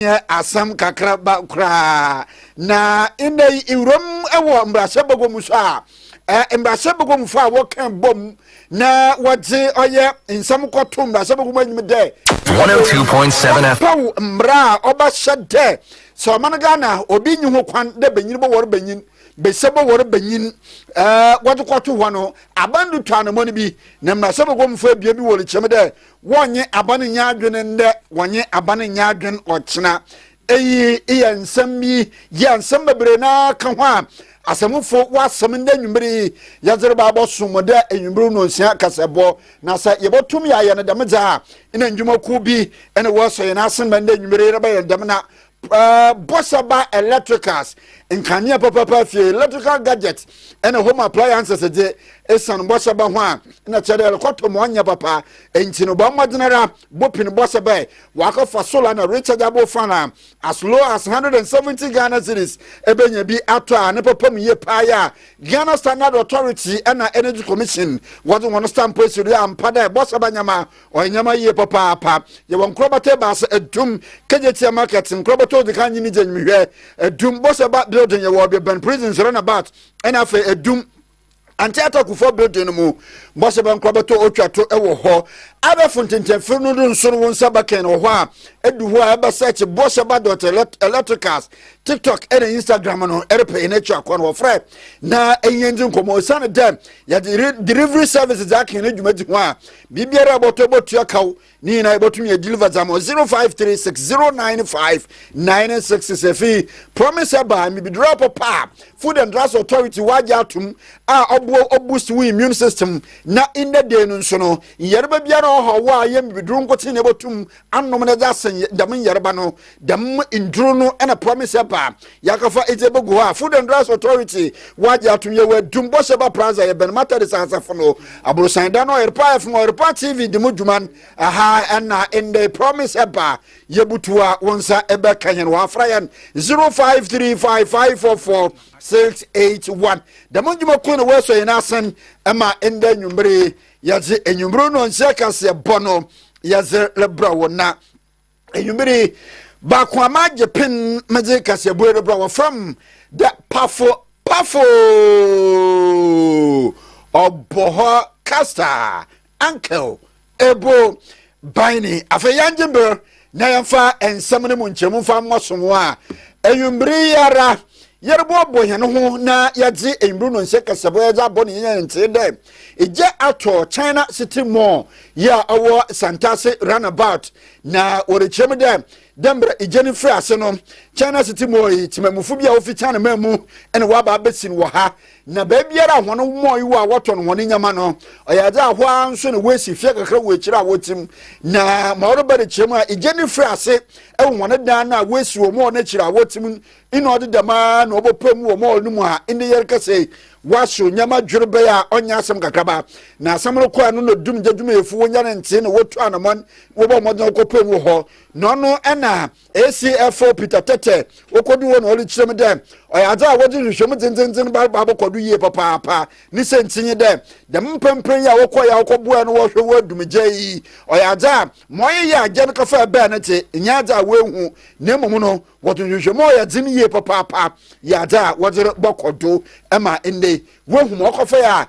nyɛ asɛm kakraba koraa. Na nnɛ yi nwuram wɔ mmarahyɛ bagua mu so a mmarahyɛ bagua mu fa a wɔka bom na wɔdze ɔyɛ nsɛm kɔto mmarahyɛ bagua mu enyim dɛ wɔpaw oh mmara a ɔbɛhyɛ dɛ sɛ ɔman ghana obi nyi ho kwan dɛ banyin bɔwɔr banyin bɛsɛ bɔwɔr banyin wɔdze kɔto hɔ no aban do tu anamɔn bi na mmarahyɛ bagua mu fa ebien bi wɔ rekyerɛ mu dɛ Wɔnye aba no nyɛ adwene ndɛ, wɔnye aba no nyɛ adwene ɔkyena. Eyi yɛ nsɛm bi yi a nsɛm bebree no ara ka ho a Asɛmfo wɔ asɛm ndɛ ewimbir yi yɛdze reba abɔsom mu dɛ ewimbir nnonsia kasabɔ. Na sɛ yebotum yɛayɛ no dɛm dze a, nna ndwumakuw bi na wɔasɔ hɛn asen ma ndɛ ewimbir yi yɛrebɛyɛ no dɛm na Uh, bɔhyɛ ba electricals nkanea pɛpɛpɛ afie electrical gadget ɛna home appliances gye esan bɔhyɛ ba ho a na kyerɛ dɛ ɛrekɔtɔ mu ɔnyɛ papa nti no bɔ mmɔden ara bopin bɔhyɛ bɛ wakɔfa solar na rechargeable fan a as low as 170 ghana series ɛbɛnya bi atɔ a ne papa mu yie paa yɛ a ghana standard authority ɛna energy commission wɔde wɔn stamp asiri ampa dɛ bɔhyɛ ba nyama Ɔyɛ nneɛma yie papaapa. Yɛwɔ nkorɔbata ebaasa, Adum, Kejetia Market, nkorɔbata odzi kan nye ne dzi enyim hwɛ, Adum, Boseba Building, yɛwɔ ɔbea bɛn prisons runabout, ɛna afei Adum, Ante Atta Kufuor Building no mu. Boseba nkorɔbata otwa to wɔ hɔ. Abɛfo ntentɛnfir no do nso no wo nsa bɛkɛn wɔ hɔ a, edu hɔ a ɛbɛ search Boseba dot electricals, TikTok ɛna Instagram no ɛrepɛ yɛn akyi akɔ no wɔfrɛ na ɛnyɛ ndzi nkɔmɔ. Osiane dɛ yɛdze delivery service dze akɛn no dwumadzi ho a, biribiara a bɔtɔ bɔtua kaw ne nyinaa yɛbɛtumi yɛ deliver dza ma 0536095966 afei promise ɛbaa mibiduro apɔ paa food and drugs authority wagye atom a ɔboa ɔboost wo immune system na in the day no nso no nyɛreba biara ɔhɔ wo a yɛ mibiduro nkotsee na ɛbɛtum anom na dze asɛn dɛm nyarba no. Dɛm ndur no na Promise ba a yɛakɛfa edzi ebogu hɔ a Food and Drugs Authority wɔagye ato mu. Yɛwɔ Adum, Bosheba Plaza, yɛbɛn Methodist asafo no aborɔsan dan no. Ɔyerpa FM, Ɔyerpa TV dzi mu dwuma ha na ndɛ. Promise ba a yebutuw a wo nsa bɛka hɛn hɔ a, fra hɛn 0535544681. Dɛm ndwumakuw no na woesɔ hɛn asen ma ndɛ ewimbir yi. yɛdze enyimber no nkyɛ kaseɛbɔ no yɛdze rebrɛ wo na enyimber yi baako ama agye pen medze kaseɛbɔ yi rebrɛ wɔ fam dɛ pafo pafo ɔbɔ hɔ kasa ankel ebo Ban ni. Afei yɛngye ber na yɛmfa nsɛm no mu nkyerɛmu mfa mmɔ sobo a, ewimbir yi ara yɛroboaboa hɛnho na yɛdze ewimbir no nsɛ kasabɔ a yɛdze abɔ no yɛnyaa ntsee dɛ gya atɔ China City Mall yi a ɔwɔ Santase Runabout na wɔrekyerɛ mu dɛ dɛ mbrɛ gya no fir ase no China City Mall yi tsemamufo bi a wofi China man mu na wɔaba abesin wɔ ha na baabiara a hɔn mɔɔe wɔ a wɔtɔn hɔn ndzɛmba no ɔyɛ adze a hɔ ara nso na woesi fia kakra wɔ ekyir a wɔtsim na ma ɔreba ne kyerɛ mu a egya no fir ase wɔ hɔn dan no a woesi wɔ mɔɔl no ekyir a wɔtsim nna ɔdze dɛm ara na ɔbɔpaa mu wɔ mɔɔl no mu a ndɛ yɛrekasa yi wɔasow ndzɛmba dwerebɛyɛ a ɔnnyɛ asɛm kakraba na asɛm no kɔr ano na dumgya dwumayɛfo wonya ne ntsee na wotu anamɔn wɔbɔ mbɔdzen kɔpaa mu wɔ hɔ na ɔno na ACFO Peter Tete okodu hɔ na ɔrekyerɛ mu dɛ ɔyɛ adze a wɔdze nhwehwɛmu dzendzenndzen ba ba abɔkɔ do yie papaapa. Ne siantsir nye dɛ, dɛm mprɛmprɛ yi a wɔkɔe a wɔkɔboae na wɔhwɛ hɔn dumgya yi, ɔyɛ adze a ma ɔyeyɛ agya no kafa bɛɛ no dze, nnyɛ adze a woehu na mbom no wɔdze nhwehwɛmu a ɔyɛ dzen yie papaapa yɛ adze a wɔdze bɔkɔ do ma ndɛ yi. Woehu ma ɔkɔfae a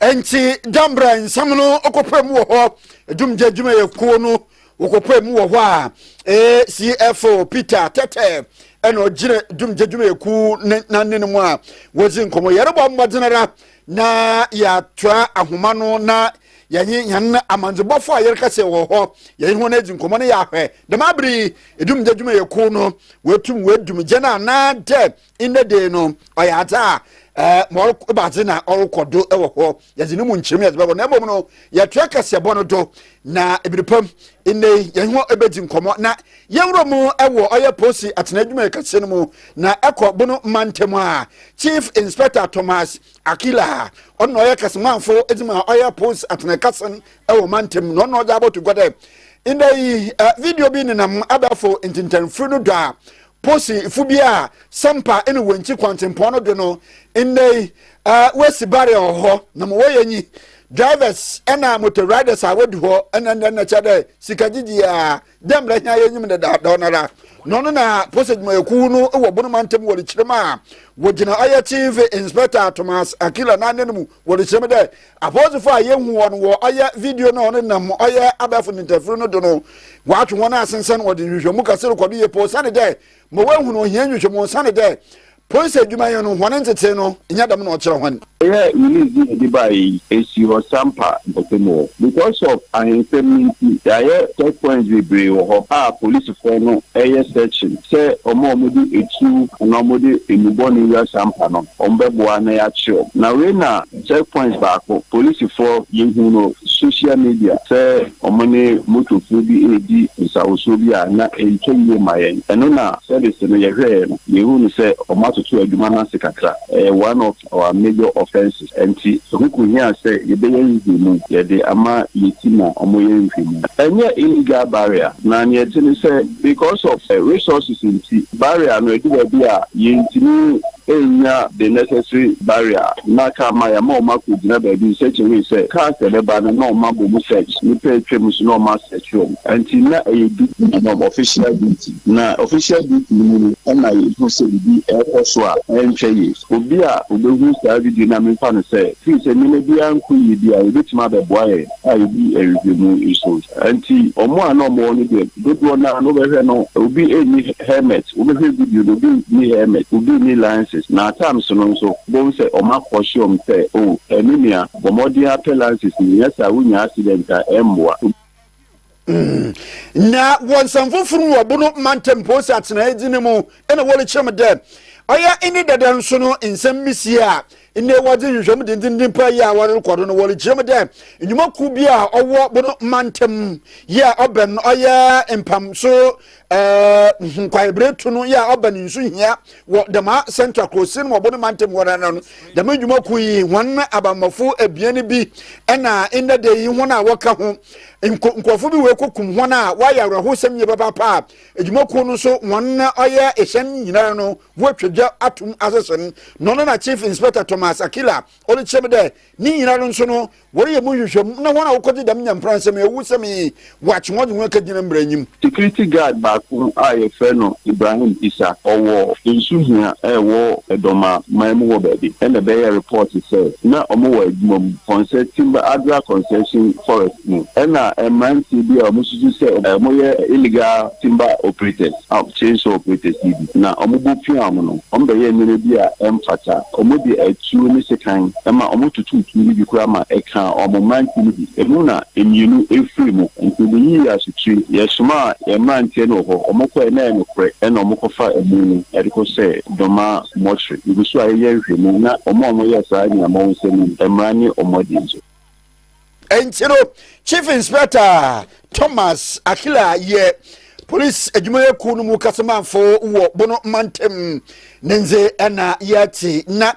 nti da mbrɛ nsɛm no ɔkɔpɛ mu wɔ hɔ adwumgya adwumayɛkuo no wɔkɔpɛ mu wɔ hɔ a eh, cfo peter tɛtɛ ɛna ɔgyina dwumgya adwumayɛkuo ne n'anene mu a wɔdzi nkɔmmɔ yɛrebɔ mmɔden ara na yɛatoa ahoma no na yɛnye yɛn amandzebɔfo a yɛreka sɛ wɔ hɔ yɛnye hɔn adzi nkɔmmɔ no yɛahwɛ dɛm abere yi ɛdumgya adwumayɛkuo no wɔatum wɔadumgya no anaa dɛ ndɛ dee no ɔyɛ adze a ɛɛ ma ɔrokɔ badze na ɔrokɔ do wɔ hɔ yɛdze no mu nkyerɛmu yɛdze bɛbɔ na mbom no yɛtoa kɛseɛbɔ no do na ebire pam ndɛ yi yɛn ho ebedzi nkɔmɔ na yɛnwura mu wɔ ɔyɛ posi atena adwumayɛ kɛseɛ no mu na ɛkɔ bono mantam a chief inspector thomas akila ɔno na ɔyɛ kɛsemanfo edze ma ɔyɛ posi atena kasen wɔ mantam na ɔno na ɔdze abɔto gua dɛ ndɛ yi video bi nenam abɛɛfo ntentɛnfiri no do a Posi fo bi a Sampa ene wɔ nkyi kwantempɔn no do no ndɛyi w'esi barrel hɔ na mo wɔyɛ nyi drivers ɛna motor riders a wɔdu hɔ ɛna ndɛ na kyɛ dɛ sika gyigyi a dɛ mbrɛ hɛn a yɛnyim no dada ɔno ara na ɔno na posi adwumayɛkuw no wɔ bono mantam wɔrekyerɛ mu a wɔgyina ɔyɛ chief inspector Thomas Akila n'anan mu wɔrekyerɛ mu dɛ Apolisifo a yehu wɔn wɔ ɔyɛ video no a wɔnenam ɔyɛ abɛɛfo ntentafiri no do no wɔatwe hɔn asensɛn wɔdze nhwehwɛmu kɛse rokɔ do yie pa osiandɛ dɛ ma woehu no ohia nhwehwɛmu osiandɛ dɛ polis edwumayɛ no hɔn ntsetsee no nnyɛ dɛm na ɔkyerɛ hɔn. Ɔyɛ release no yɛde bae yi esi hɔ Sampa mpɔtam hɔ. Because of ahensɛm no nti yɛayɛ check points bebree wɔ hɔ a polisifɔɔ no yɛ searching sɛ wɔn a wɔde atuo anaa wɔde nnubɔne wura Sampa no wɔbɛboa na yɛakye wɔn. Na wei na Checkpoint baako polisifɔ yehu no social media sɛ wɔne motofuo bi redi nsawosuo bi a na ɛntwa yie ma yɛn. Ɛno na service no yɛhwɛɛ no yehu no sɛ wɔatoto adwuma no ase kakra. Ɛyɛ one of our major offences ɛnti ɛho kohia sɛ yɛbɛyɛ nhwehwɛmu. Yɛde ama yɛti ma wɔyɛ nhwehwɛmu. Ɛnyɛ illegal barrier na nea ɛte ne sɛ because of resources nti barrier no ɛdu baabi a yɛntumi Ɛrenya the necessary barrier na car ma yɛama wɔn akɔgyina baabi search away sɛ cars a ɛbɛba no na wɔn abɔ mu search nnipa a atwa mu so na wɔn asearch wɔn nti na ɛyɛ duty ma wɔn, official duty, na official duty no mu no na yɛhu sɛ biribi ɛrekɔ so a ɛntwa yie. Obi a ɔbɛhu saa video no a memfa no sɛ firi sɛ nneɛma biara nkɔ yie bi a ɔbɛtumi abɛboa yɛn. a edi nhwehwɛ mu nso. Enti wɔn a na wɔwɔ no deɛ, dodoɔ no ara no wobɛhwɛ no, obi nni helmet, wobɛhwɛ video no, obi nni helmet, obi nni lances. Na at times no nso, wobɛhu sɛ wɔakɔhye wɔn sɛ, Oh, me nua, bɔ mmɔden ara pɛ lances no, nyɛ saa a, wonya accident a, ɛmmoa. Mm. Na wɔ nsɛm foforo mu ɔbo no mantam posi atenae dzi no mu na wɔrekyerɛ mu dɛ ɔyɛ ne dɛdɛ nso no nsɛm bi sie a nnɛ wɔdze nhwehwɛmu dendenden paa yi a wɔrekɔ do no wɔrekyerɛ mu dɛ nnwumakuw bi a ɔwɔ bo no mantam yi a ɔbɛn no ɔyɛ mpamso ɛɛ nkwaebere to no yɛ a ɔba ne nsu hia wɔ dɛmaa central kurosin mu ɔbo ne mantam hɔ nana no dɛm adwuma kun yi wɔn abamafo abien bi ɛna nnɛ da yi wɔn a wɔka ho nkurɔfo bi wɔ ekokum wɔn a wɔayɛ awerɛhosɛm yie papaapa a adwuma kun no nso wɔn ɔyɛ ɛhyɛn nyinaa no wɔatwa dwa atum asese no no na chief inspector thomas akila Ɔrekyerɛm dɛ, ne nyinara nso no, wɔreyɛ mu nhwehwɛmu na hɔn a wɔkɔgye dɛm nyampransɛm yi ewusɛm yi wɔakye hɔn dze hɔn ekegyina mbra enyim. Security guard baako a wɔfrɛ no Ibrahim Issa, ɔwɔ nsu hia a ɛwɔ Edoma man mu hɔ baabi na bɛyɛɛ report sɛ na wɔwɔ adwuma mu Kɔnsɛ Timber Adra Concession Forest mu na mmeranteɛ bi a wɔsusu sɛ wɔyɛ illegal timber operators. chainsaw operators yi bi, na wɔbɔ pia wɔn no, wɔbɛyɛ nneɛma bi a ɛmfata. Wɔde atuo ne sekan ma wɔtotoo tuo no bi koraa ma ɛkaa wɔn mmeranteɛ no bi. Ɛno na mmienu firii mu. Enti wɔyii yɛn asotie. Yɛsomaa yɛn mmeranteɛ no wɔ hɔ. Wɔkɔeɛ na ɛyɛ nokorɛ na wɔkɔfaa amu no de kɔhyɛɛ Dɔmaa mortuary. Yɛgu so ara yɛyɛ nhwehwɛmu na wɔn a wɔyɛɛ saa nyinaa ma wɔn nsa mu mmara ne wɔn adie so. ɛnti no chief inspector thomas akila yɛ polisi adwumayɛkuo no mu kasamanfo wɔ bono mantam ne nze ɛna yɛte na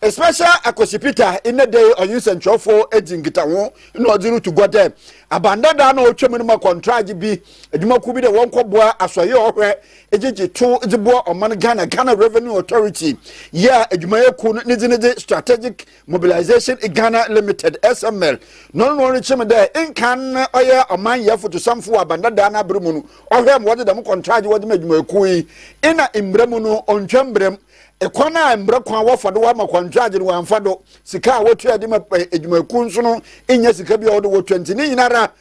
special akwasi peter ɛnɛ dɛ ɔnye nsɛnkyerɛwfo dzi nkitaho na ɔdze roto gua dɛ abandada na ɔtwa mu no ma kɔntragye bi adwumakuo bi dɛ wɔnkɔboa asɔyɛ ɔhwɛ gyegye to dze boa ɔman ghana ghana revenue authority yɛ a adwumayɛkuo no ne dze ne dze strategic Mobilisation Ghana Limited, SML, no no rekyem dɛ nkan no ɔyɛ ɔmanyɛ fotosamfo wɔ Aban Dadaa n'aber mu no, ɔhwɛɛ ma wɔdze dɛm kɔntraagye wɔdze ma edwumayɛkuw yi na mbra mu no onntwa mbra mu. Kwan a mbra kwan wɔfa do wɔama kɔntraagye no wɔammfa do, sika a wotuaa dze ma edwumayɛkuw so no nnyɛ sika bi a ɔwɔ do wotua ntsi ne nyinara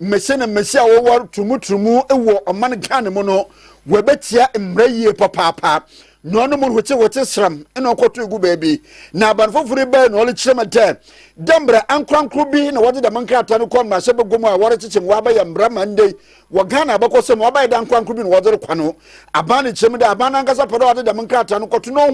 Mmese na mmese a wɔwɔre turumuturumu wɔ ɔman Ghana mu no wɔbɛtia mmara yie papaapa na ɔno mu hwete hwete sram na ɔkɔto egu baabi na aban foforo bɛyɛ na ɔrekyerɛ mu dɛ dɛ mmara ankorankoro bi na wɔde dɛm nkrataa no kɔ mmarahyɛ bagua mu a wɔrekyekyɛ mu wɔabɛyɛ mmara ma ndɛ wɔ Ghana abɛkɔ sɛ mu wɔabɛyɛ dɛ ankorankoro bi na wɔde rekɔ no aban no kyerɛ mu dɛ aban nankasa pɛ dɛ wɔde dɛm nkrataa no kɔto na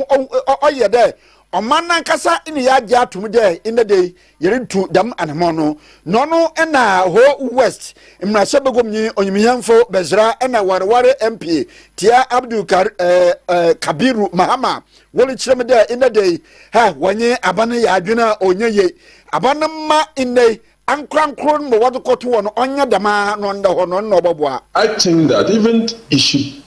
ɔyɛ dɛ ɔman nankasa ne yɛ agye atom dɛ ndɛ dɛ Yɛretu dɛm anamɔn no, na ɔno na Ho West mmarahyɛbagumnyi onyimhɛnfo Bɛsra na Wareware MP tsia Abdul Kar eh, eh, Kabiru Mahama worikyerɛ me dɛ ndɛ da yi, hɛ, wɔnye aban yɛ adwen a ɔnnyɛ yie. Aban no mma ndɛ yi ankorankor no ma wɔdze kɔto hɔ no ɔnnyɛ dɛm ara na ɔnda hɔ no, ɔno na ɔbɔboa. I think that even you should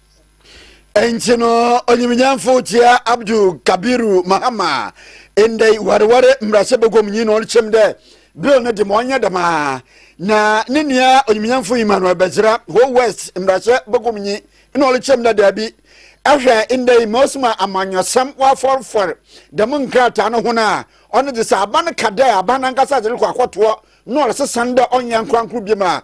nti no onyimnyamfo kyia abdul kabiru mahama ndɛ wareware mmarahyɛ baguam nyi na ɔkyɛm dɛ bill no de ma ɔnyɛ dɛm a na ne nua onyimnyamfo emmanuel bɛgyera ho west mmarahyɛ baguam nyi na ɔkyɛm dɛ daabi ɛhwɛ ndɛ yi ma osuma amanyɔsɛm wafɔrfɔr dɛm nkrataa no ho no a ɔno de sɛ aban ka dɛ aban nankasa de rekɔ akɔtoɔ na ɔresesa ndɛ ɔnyɛ nkorankoro biom a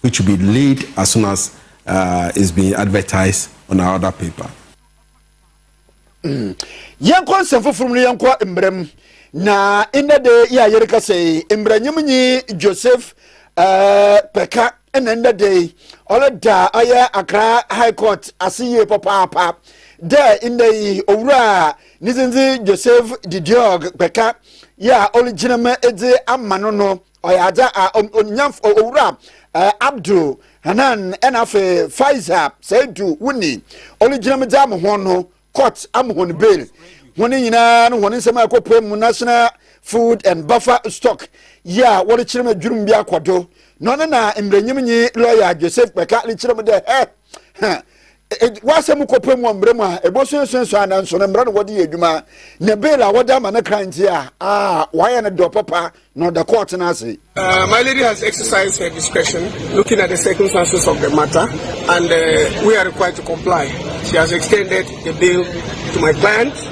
which will be laid as soon as uh, it's been advertised on our other paper. Mm. yɛnkɔ nsɛm foforɔ mu no yɛnkɔ mmerɛ mu na nnɛ de yɛ a yɛreka sɛ mmerɛnyem nyi joseph uh, pɛka ɛna nnɛ de ɔreda ayɛ akra high court ase yie papaapa dɛ nnɛ yi owura ne dzindzi joseph didiog pɛka yɛ a ɔregyina mu dze ama no no ɔyɛ agya a ɔnya owura abdul hanan ɛna afei faiza saidu wuni ɔlegyina mu gya mo ho no court am hɔn bail hɔn nyinaa no hɔn nsɛm a ɛkɔpɛ mu national food and buffer stock yi a wɔrekyerɛ mu adwurum bi akɔdo na ɔno na mmerɛnyimnyi lɔya joseph kpɛka rekyerɛ mu dɛ hɛ hɛ W'asɛm mu kɔpɛ mu mmerɛ mu a ɛbɔso nsuansu a nanso no mmerɛ na wɔde yɛ adwuma ne bail a wɔde ama no kra nti a a wɔayɛ no dɔ papa na ɔda kɔɔte no ase. Uh, my lady has exercised her discretion looking at the circumstances of the matter, and uh, we are required to comply. She has extended the bail to my client.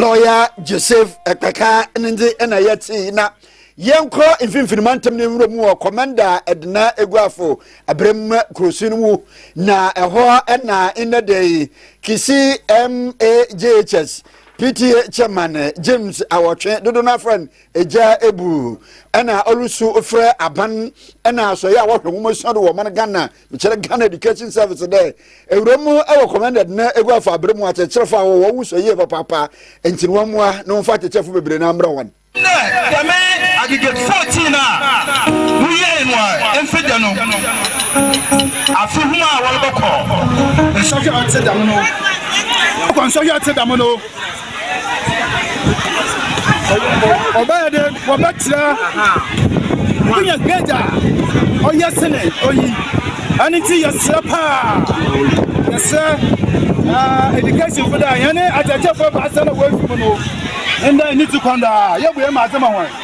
lɔya joseph ɛkpɛka ne ndze ɛna yɛ tee na yɛnkɔ mfimfini mantam no nwura mu wɔ kɔmanda ɛdena eguafo abiram kurosu no mu na ɛhɔ ɛna nnɛ dɛ yi kisi majhs pta chairman james awɔtwe dodo no afra no egya ebu ɛna ɔlusu frɛ aban ɛna asɔyɛ a wɔhwɛ nwomasua do wɔ ɔman ghana Mekyerɛ Ghana Education Service dɛ ewura mu wɔ commended na egu afa aber mu akyerɛkyerɛfo a wɔwɔ wo sua yie papaapa ntsi no wɔmboa na wɔmfa akyerɛkyerɛfo beberee na mbra hɔn. Ndɛ dɛm Aggregate 14 a woyɛe no a mfe dɛ no afe ho a wɔrobɔkɔ nsɔhwɛ a ɔtse dɛm no, wɔrobɔkɔ nsɔhwɛ a ɔtse dɛm no. ɔbɛyɛ dɛ wɔbɛkyerɛ wonya grade a ɔyɛ sene oyi ɛno nti yɛserɛ paa yɛserɛ education fo dɛ yɛne akyɛkyɛfoɔ baasɛ na wɔafi mu no ndɛ ne ti kɔn daa yɛbue ma adze ma hɔn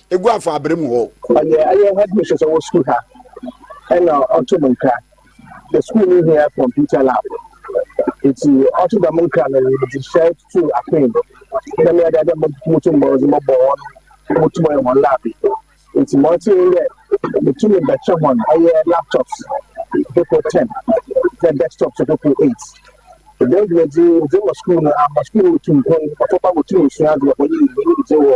egu afa abere mu hɔ. Ɔyɛ ayɛ ha bi sɛ wɔ sukuu ha ɛna ɔto mu nkra the school no hia computer lab nti ɔto dɛm nkra no de hyɛ to akwan mu na mmea dada moto mmɔdze mɔbɔ wɔn motum ayɛ wɔn lab nti ma ɔte yɛ metumi bɛkyɛ wɔn ɛyɛ laptops dopo ten na desktops dopo eight ɛdɛn dwumadzi dze ma sukuu no ama sukuu no tu mpon ɔtɔkwa motum nsua adze ɔbɔ ne nyinyi dze wɔ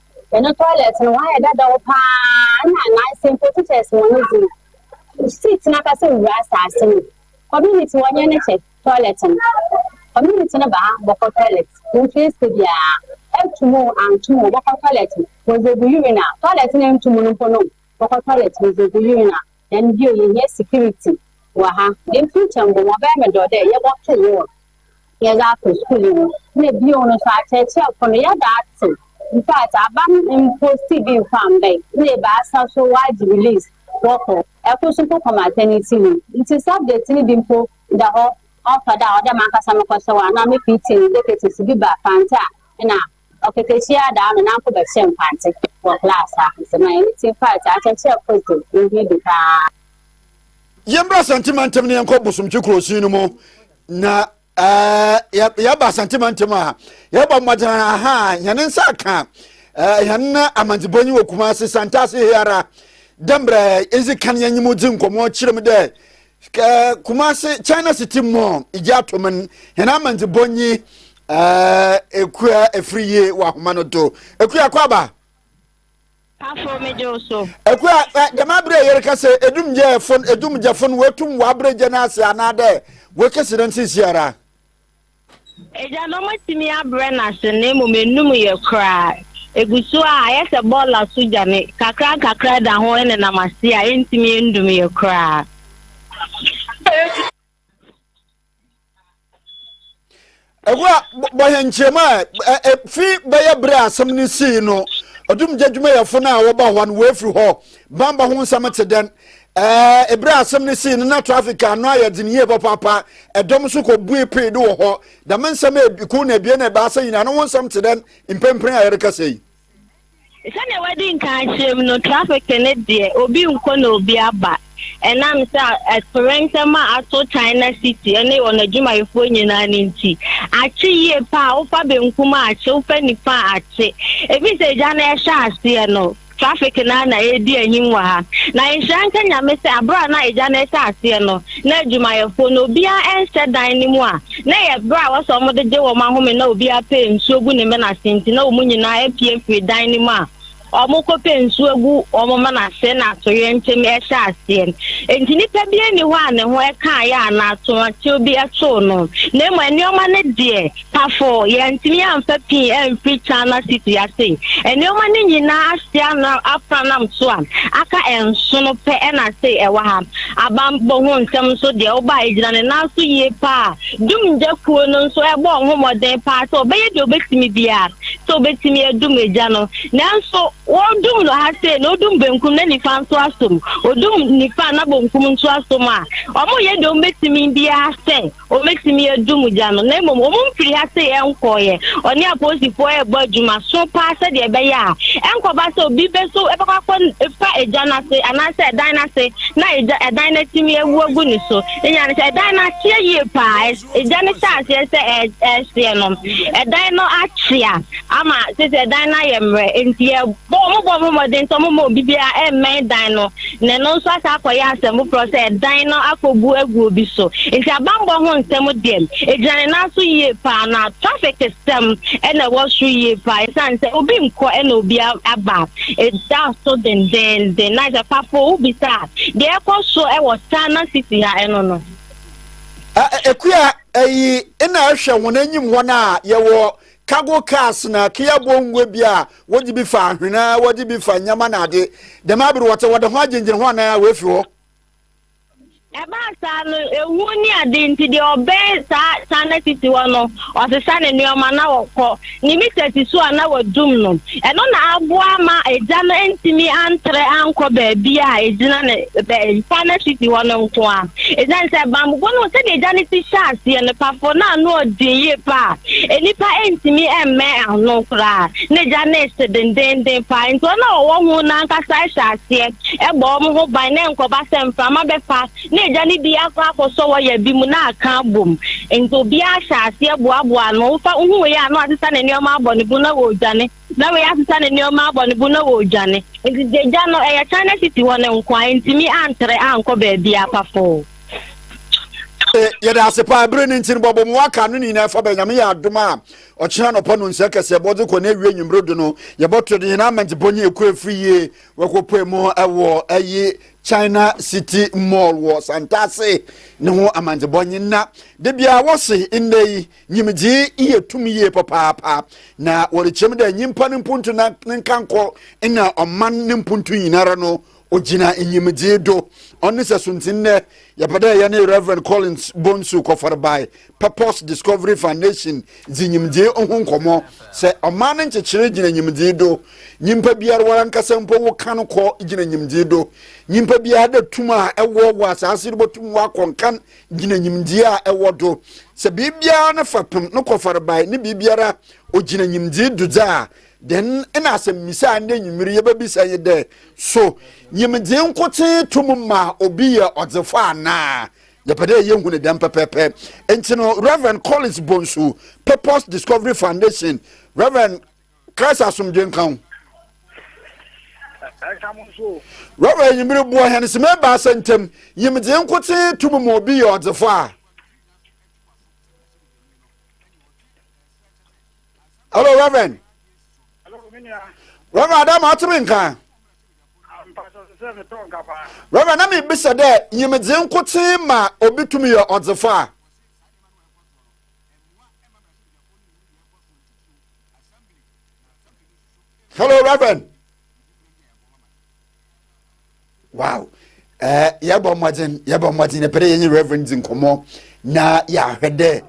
Hɛn toilet no ɔayɛ dadaw paa nna ananse mpo teachers hɔn dze seat nankasa wura asaase no. Community wɔnyɛ ne kyɛ toilet no. Community no ba ha bɔkɔ toilet mfeese biara. Etum o anntum o wɔbɔkɔ toilet no wɔdze egu urinal. Toilet no enntum no mpo no wɔkɔ toilet wɔdze egu urinal. Hɛn bio yehia security wɔ ha. Dɛm ntsi nkyɛ mbom ɔbɛyɛ me dɔ dɛ yɛbɔto wall na yɛdze ato skuul yi mu. Nna bio no so akyerɛkyerɛfo no yɛda atsew. Infact aba no mmpostii bi mmfa mmbae. Nna ebiasa so wɔagye release wɔkɔ. Kor so mpo kɔ maternity leave. Ntsi subject no bi mpo da hɔ ɔmmfa da a ɔwɔ dɛ mankasa mokɔhyɛ hɔ anaa me PTA executives bi ba Fantse a nna Ɔkatahyia adaa me nanfo bɛhyɛɛ nkwante wɔ klass a nsɛm a ɛne Tea Party akyerɛkyerɛ Kristo no ho adi paa. Yɛmbra Santimantem na yɛnkɔ Bosomtwe Kurosin no mu na eh, yɛba Santimantem a yɛbɔ mmɔden aha hɛn nsa aka eh, hɛn amandzebɔ nyi wɔ Kumase Santase hiara dɛ mbrɛ edzi kan yɛnye mu dzi nkɔmmɔ kyerɛ mu dɛ ɛɛ kumase china city mall gye atom n hɛn amandze bɔnyi ɛɛ ekua efiri yie wɔ ahoma no do ekua kɔ aba. pafo megye wo so. ekua ɛ dɛm abere a yɛreka sɛ edumgyɛfo edumgyɛfo no wɔatum wɔabrɛ gya no ase anaadɛ wɔakesi no nsisiara. Agyanom atumi abrɛ no ase na mmom anum yɛ koraa. Egu so a, ayɛ sɛ bɔɔl a so gya ne kakrankakra da ho nenam ase a entumi nnum yɛ koraa. Ɛhɔ a, bɔ yɛn nkyerɛmu a efi bɛyɛ bere a asɛm no sii no, ɔdumgya adwumayɛfo no a wɔba hɔ no wɔafiri hɔ. Bamba ho nsɛm te dɛn? Ɛɛ bere a asɛm no sii no na trafik ano ayɛ den yie papaapa ɛdɔm nso kɔ bue pee de wɔ hɔ dɛm nsɛm eku na ebien na ebaasa nyinaa no ho nsɛm te dɛn mprempren a yɛrekasa yi. sɛdeɛ wadi nkan akyerɛm no trafik ne deɛ obi nkɔ na obi aba ɛnam sɛ atoyerɛnsɛm a ato china city ne wɔn adwumayɛfoɔ nyinaa no nti akye yie paa wofa benkum a akye wofa nifa a akye ebi sɛ agya no ɛhyɛ aseɛ no Traffic no ara na ɛredi ahim wɔ ha. Na nhyira nka Nyame sɛ aberɛ a na egya no rehyɛ aseɛ no, na adwumayɛfoɔ no, obiara ɛnhyɛ dan no mu a na ɛyɛ berɛ a wɔsɛ wɔn de gye wɔn ahome na obiara pɛ nsuo gu ne mena ase nti na wɔn nyinaa apue firi dan no mu a wɔkɔ pɛ nsuo agu wɔn mena ase na atoyerɛnkyɛm ɛhyɛ aseɛ. Enti nipa bi ani hɔ a ne ho ɛkaeɛ anaa atoakyew bi ɛtoo no, na mmom nneɛma no deɛ Pafo, yɛantumi amfa pii amfiri China City ase. Nneɛma no nyinaa ase ano afra nam so a, aka nsono pɛ na ase ɛwɔ ha. Abambɔ ho nsɛm nso deɛ woba a, ɛgyina ne nan so yie paa. Dumgya kuo no nso ɛbɔɔ ho mmɔden paa sɛ wɔbɛyɛ deɛ wɔbɛtumi biara sɛ wɔbɛtumi adum egya no. Nanso wɔredum no ha sei no, wodum benkum na nifa nso asom. Wɔdum nifa na bonkum nso asom a, wɔyɛ deɛ wɔbɛtumi biara sɛ Wɔbɛtumi adu mu gya no, na mmom wɔn mfiri ha sei nkɔeɛ. Ɔne apolisifoɔ rebɔ adwuma so paa sɛdeɛ ɛbɛyɛ a ɛnkɔba sɛ obi bɛso bɛkɔ akɔfa egya no ase anaasɛ ɛdan no ase na egya ɛdan no atumi awu agu ne so. Nya no sɛ ɛdan no akyea yie paa, egya no hyɛ aseɛ sɛ ɛhyeɛ no, ɛdan no akyea ama sɛ sɛ ɛdan no ayɛ mmerɛ nti Bɔ wɔn mmɔbɔ mmɔden sɛ wɔmma obi biara mmɛn dan no na ɛno nso asan akɔyɛ asɛm foforɔ sɛ dan no akɔbu agu obi so. Enti abanbɔ ho nsɛm deɛ, ɛgyina ne nan so yie pa ara, na trafik sɛm na ɛwɔ soro yie pa ara ɛsiane sɛ obi nkɔ na obi aba. Ɛda so dendeenden. Na sɛ Kpafo wobisa a, deɛ ɛkɔ so wɔ Tana City ha ɛno no. Akua, ɛyi na ɛhwɛ wɔn anim hɔ no a yɛwɔ cargo cars na ke abɔ ngua bi a wɔdze bi fa ahwen a wɔdze bi fa nyama na adze dɛm aber wɔtse wɔda ho agyengyen ho anaa woefi hɔ. Ɛbaa saa no, ehu ne ade nti, deɛ ɔbɛn saa kyan no sisi hɔ no, ɔsesa ne nneɛma na ɔkɔ. Ne mita si so a na wadum no. Ɛno na aboa ama agya no antumi antrɛ ankɔ baabi a egyina ne mpa no hwete hɔ no nko a. Esiane sɛ bammɔbɔ no hu sɛdeɛ agya no ti hyɛ aseɛ, nopafo, na ano ɔden yie paa a nnipa ntumi mmɛn ano koraa na agya no rese dendeenden paa. Enti wɔn a wɔwɔ ho no ankasa hyɛ aseɛ bɔ wɔn ho ban na ɛnkɔba sɛ mframa bɛfa na agya no bi akɔ akɔsɔ wɔ yɛ bi mu na aka abom. Nti obiara hyɛ aseɛ boaboa ano. Wofa wohu wei a na wasesa ne nneɛma abɔ ne bo na wɔredwane. Na wei asesa ne nneɛma abɔ ne bo na wɔredwane. Nti agya no ɛyɛ China City hɔ no nko a ɛntumi antere ankɔ baabiara pafoo. Eh, yɛde ase paa bere ne nti no bɔbɔ mu aka no ne nyinaa fa bɛ nyame yɛ adom a ɔkyena nɔpa no nsɛ kɛsɛ bɔdze kɔ na awie nwummere do no yɛbɔto de hena amantipɔ nye ɛkɔ afiri yie wɔkɔpue mu wɔ ɛyi china city mall wɔ santase ne ho amandzebɔ nye nna de bia wɔse nnɛ yi nyimdzee yɛ tum yie papaapa na wɔrekyerɛ mu dɛ nyimpa no mpuntu na ne nkankɔ na ɔman ne mpuntu nyinara no ogyina nyimdzee do ɔno sɛ so ntsi nnɛ yɛpɛ dɛ yɛne reverend collins bonsu kɔfɔr bae purpose discovery foundation dzi nyimdzee ho nkɔmmɔ sɛ ɔman no nkyekyere gyina nyimdzee do nyimpa biara warankasa mpo wo kan kɔ gyina nyimdzee do nyimpa biara dɛ tum a ɛwɔ wɔ asaase do botum wakɔ nkan gyina nyimdzee a ɛwɔ do sɛ biribiara no fapem no kɔfɔr bae ne biribiara ogyina nyimdzee do dza Dɛn na asɛmmisa a ndɛ enyimir yebebisa nye dɛ, So nyimdzee nkotsee tum ma obi yɛ ɔdzefo anaa? Yɛpɛ dɛ yehu no dɛm pɛpɛɛpɛ. Ntsi no, Rev. Collins Bonsu, Purpose Discovery Foundation, Rev. Christ Asomdwee nka wo. Rev. Enyimir boa hɛn sema ebiasa ntamu, Nyimdzee nkotsee tum ma obi yɛ ɔdzefo a? hello reverend reverend ada ma ɔte me nka reverend na mebisa dɛ nyimdze nkotsee ma obi tum yɛ ɔdzefo a hello reverend wow ɛɛ eh, yɛbɔ mmɔden yɛbɔ mmɔden na pɛrɛ yɛnye reverend di nkɔmmɔ na yɛahwɛ dɛ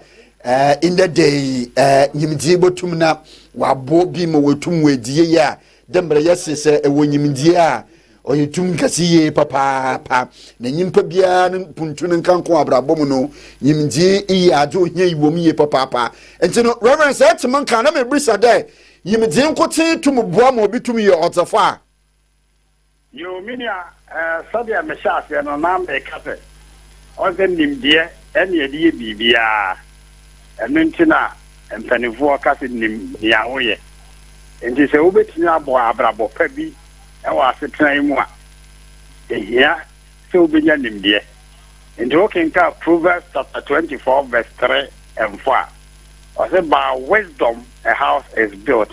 ɛɛ eh, in the day ɛɛ eh, nyimdie botum na wabo bi ma wɔtum wɔ edi yie a dɛ mbrɛ yɛse sɛ ɛwɔ nyimdie a ɔyɛ tum nkɛse yie papaapa na nyimpa biara no mpuntu no nkanko abrabɔ mu no nyimdie yɛ adze ohia yi wɔm yie papaapa nti no reverend sɛ ɛte mo nka na mebisa dɛ nyimdie nkotsee tum boa ma obi tum yɛ ɔdzefo a Yoo me nua eh sɛdeɛ me hyɛ aseɛ no na me ka sɛ ɔn sɛ nimdeɛ ɛne yɛde yɛ biribiara ɛno nti na mpaninfoɔ ka sɛ nim nea wo yɛ nti sɛ wo bɛtumi abɔ abrabɔ pa bi ɛwɔ asetena yi mu a ɛhia sɛ wo bɛnya nimdeɛ nti wo kenka Proverbs chapter 24 verse 3 and 4 a ɔsɛ by wisdom a house is built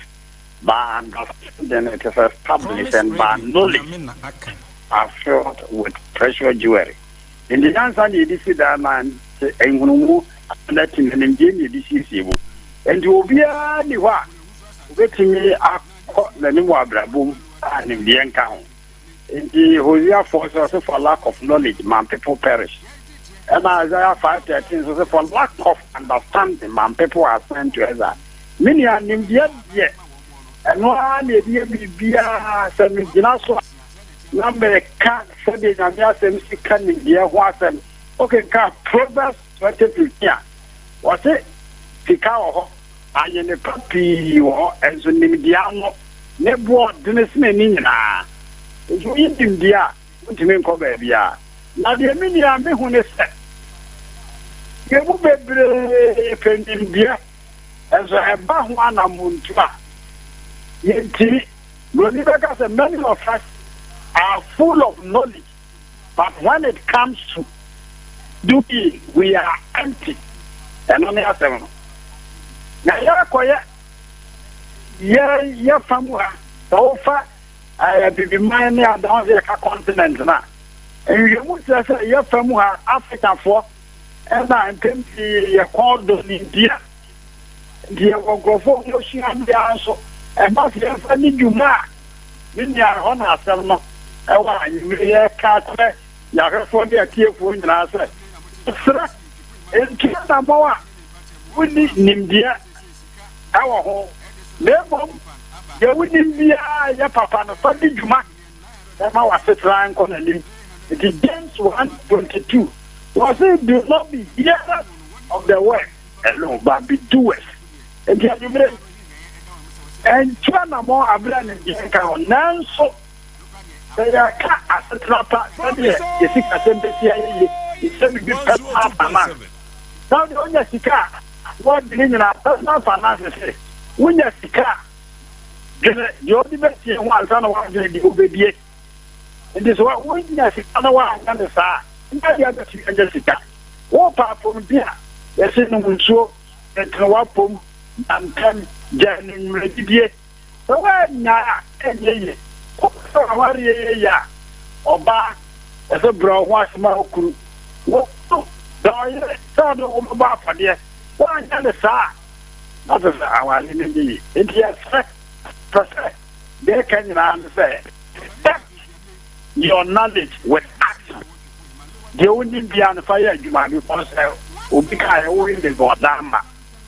by understanding it is established and by knowledge are filled with precious jewelry. Nti nyansa na yɛde si dan na nhunumu na ti na nimdeɛ na yɛde siesie mu. Nti obiara ni hɔ a obetumi akɔ n'anim wɔ abrabɔ mu a nimdeɛ nka ho. Enti Hosea 4 so ɔse for lack of knowledge my people perish. Ɛna Isaiah 5 13 so se for lack of understanding my people are sent to exile. Me nua, nimdeɛ deɛ, ɛno ara na ɛde yɛ biribiara. Sɛ megyina so a na meka sɛdeɛ Nyame asɛm si ka nimdeɛ ho asɛm. Wokenkan Proverbs Twenty fifteen a, wɔse sika wɔ hɔ, ayene pa pii wɔ hɔ, nso nimdeɛ ano ne boɔ dene sene ne nyinaa. Nti wonni nimdeɛ a, wontumi nkɔ baabiara. Na deɛ me nua me hu ne sɛ, yɛn mu bebree pɛ nimdeɛ, nso ɛba ho anamontuo a, yɛntumi. Buroni bɛka sɛ, Many of us are full of knowledge. but when it comes to do bi we are empty ɛno ne asɛm no na yɛakɔyɛ yɛ yɛ fa mu ha sɛ wofa abibiman ne adan sɛ yɛka continent no a nhwɛmu kyerɛ sɛ yɛfa mu ha afrikafoɔ ɛna mpɛm pii yɛkɔn do ne ntia Deɛ wɔ nkurɔfoɔ hɔ sua biara nso, ɛma sɛ yɛmfa di dwuma a. Me nua, ɛhɔ na asɛm no wɔ a anwummerɛ yi yɛreka akyerɛ yɛn ahwɛfoɔ ne atiefoɔ nyinaa sɛ, Mesrɛ, ntu anammɔn a wonni nimdeɛ wɔ ho, na mmom deɛ wonim biara a ɛyɛ papa no, fa di dwuma na ɛma w'asetena nkɔ n'anim. Enti James 1, 22, wɔse, Do not be hearers of the word. Hello Barbie Duet Enti anwummere ɛntu anammɔn abere a nimdeɛ nka ho nanso sɛ yɛka asetena pa sɛdeɛ yɛ sikasɛm bɛsi ayɛ yie yɛhyɛ biribi personal finance na wode wonya sika a wɔde ne nyinaa personal finance se wonya sika a dwene deɛ wode bɛsie ho ansa na woadwene deɛ wobɛdie Enti sɛ wonya sika na woanyɛ no saa a, nyɛ adeɛ a wobɛtumi anya sika. Wopɛ apɔmuden a, yɛse nom nsuo, tentene w'apɔm, da ntɛm, gyae anwummerɛdidie. Sɛ woannyae a, ɛnyɛ yie. Wopɛ sɛ w'awareɛ yɛ yie a, ɔbaa, ɛsɛ sɛ wobrɛ wo ho ase ma wo kunu. Wo kunu dɔ wo yere sɛ ɔde wo ho bɛbɔ afɔdeɛ. Woanyɛ no saa a, na kyerɛ sɛ awareɛ no nyɛ yie. Enti yɛsrɛ, yɛpɛ sɛ. Deɛ ɛka nyinaa ne sɛ test your knowledge with action. Deɛ wonim biara no fa yɛ adwuma because sɛ obi kaa yɛ wo Legon Dama,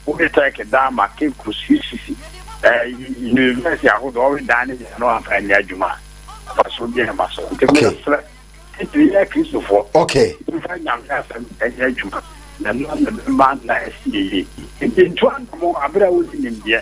wowe Turkey Dama, Caicos, UCC, eh, university ahodoɔ ɔwe dan ne nyinaa no amfa nyɛ adwuma a fa so bi ɛma so nti okay. mesrɛ titiri yɛ kristofoɔ okay. mfa nyame asɛm ɛnyɛ adwuma na ɛno na bɛma na ɛsi yie nti ntu anamo aberɛ a wodi nimdeɛ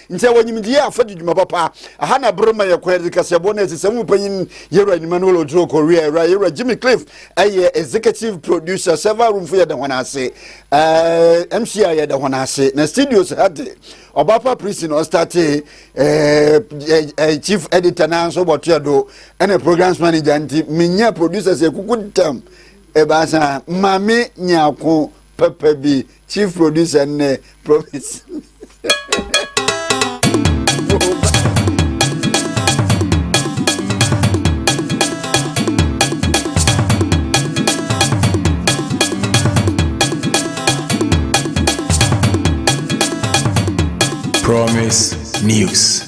Nti ɛwɔ nyimdie a fa di dwuma papa. Aha na ber ma yɛ kwan dze kaseɛbɔ no esi sɛ mu panyin Yewura Emmanuel Oduro Korea, Ewura Yewura Jimmy Cliff yɛ executive producer, server roomfo yɛda hɔn ase, eh, MC a yɛda hɔn ase, na studios ha dze Ɔbaafa Prisi na ɔstartee, eh, eh, chief editor na nso bɔtoɛ do, ɛna programs manager nti menyaa producers ekuku tam ebaasa, Mame Nyako papa bi chief producer ne promise Promise News.